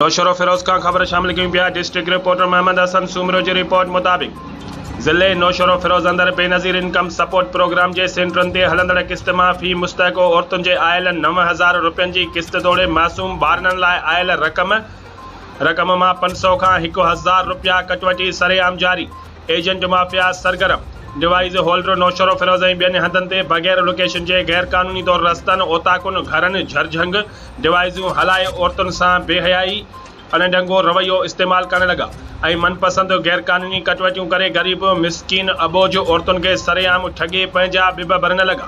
نوشهرو فيروز کان خبر شامل ڪيون پيا ڊسٽرڪٽ رپورٽر محمد حسن سومرو جي رپورٽ مطابق ضلعي نوشهرو فيروز اندر بينظير انڪم سپورٽ پروگرام جي سينٽرن تي هلندڙ قسط مان في مستحقو عورتن جي آيل نو هزار روپين جي قسط توڙي معصوم ٻارڙن لاء آيل رقم رقم مان پنج سئو کان هڪ هزار روپيا ڪٽوٽي سرعام جاري ايجنٽ مافيا سرگرم ڊوائيز هولڊر نوشهرو فيروز ۽ ٻين هنڌن تي بغير لوڪيشن جي غير قانوني طور رستن، اوطاقن، گهرن، جهرجهنگ، ڊوائيزون هلائي عورتن سان بي حيائي ۽ ڏنگو رويو استعمال ڪرڻ لڳا ۽ من پسند غير قانوني ڪٽوتيون ڪري غريب، مسڪين، اٻوجهه عورتن کي سري عام ٺڳي پنهنجا ٻٻ ڀرڻ لڳا.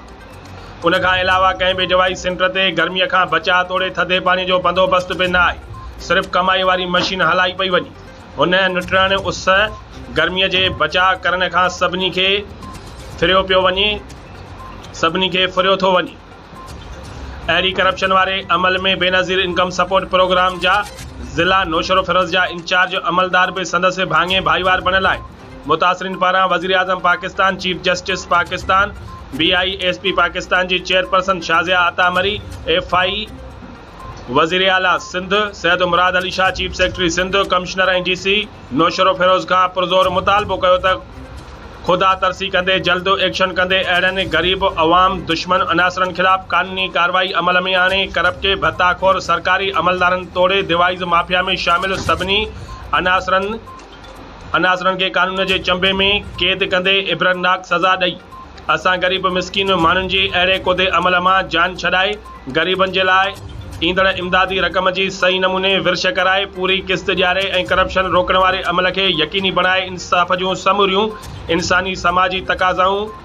ان کان علاوه ڪنهن به ڊوائيز سينٽر تي گرمي کان بچاء توڙي ٿڌي پاڻي جو بندوبست به نه آهي، صرف ڪمائي واري مشين هلائي پئي وڃي. هن نٽراڻي اس، گرميء، جي بچاء ڪرڻ کان سڀني کي ڦريو پيو وڃي، سڀني کي ڦريو ٿو وڃي. اينٽي ڪرپشن واري عمل ۾ بينظير انڪم سپورٽ پروگرام جا ضلع نوشهروفيروز جا انچارج عملدار به سندس ڀاڱي ڀائيوار بڻيل آهن. متاثرين پاران وزيراعظم Pakistan, chief justice Pakistan, B I اي ايس پي پاڪستان جي chairperson Shazia Atta Marri, F I وزير اعليٰ Sindh Syed Murad Ali Shah chief secretary Sindh commissioner ۽ D C Naushahro Feroze کان پرزور مطالبو ڪيو ته خدا ترسي ڪندي جلد ايڪشن ڪندي اهڙن غريب عوام دشمن عناصرن خلاف قانوني ڪارروائي عمل ۾ آڻي ڪرپٽي ڀتا خور سرڪاري عملدارن توڙي ديوائيز مافيا ۾ شامل سڀني عناصرن عناصرن کي قانون جي چنبي ۾ قيد ڪندي عبرتناڪ سزا ڏئي اسان غريب مسڪين ماڻهن جي اهڙي ڪودي عمل مان جان ڇڏائي غريبن جي لاء ايندڙ امدادي رقم جي صحيح نموني ورڇ ڪرائي پوري قسط ڏياري ۽ ڪرپشن روڪڻ واري عمل کي يقيني بڻائي انصاف جون سموريون انساني سماجي تقاضائون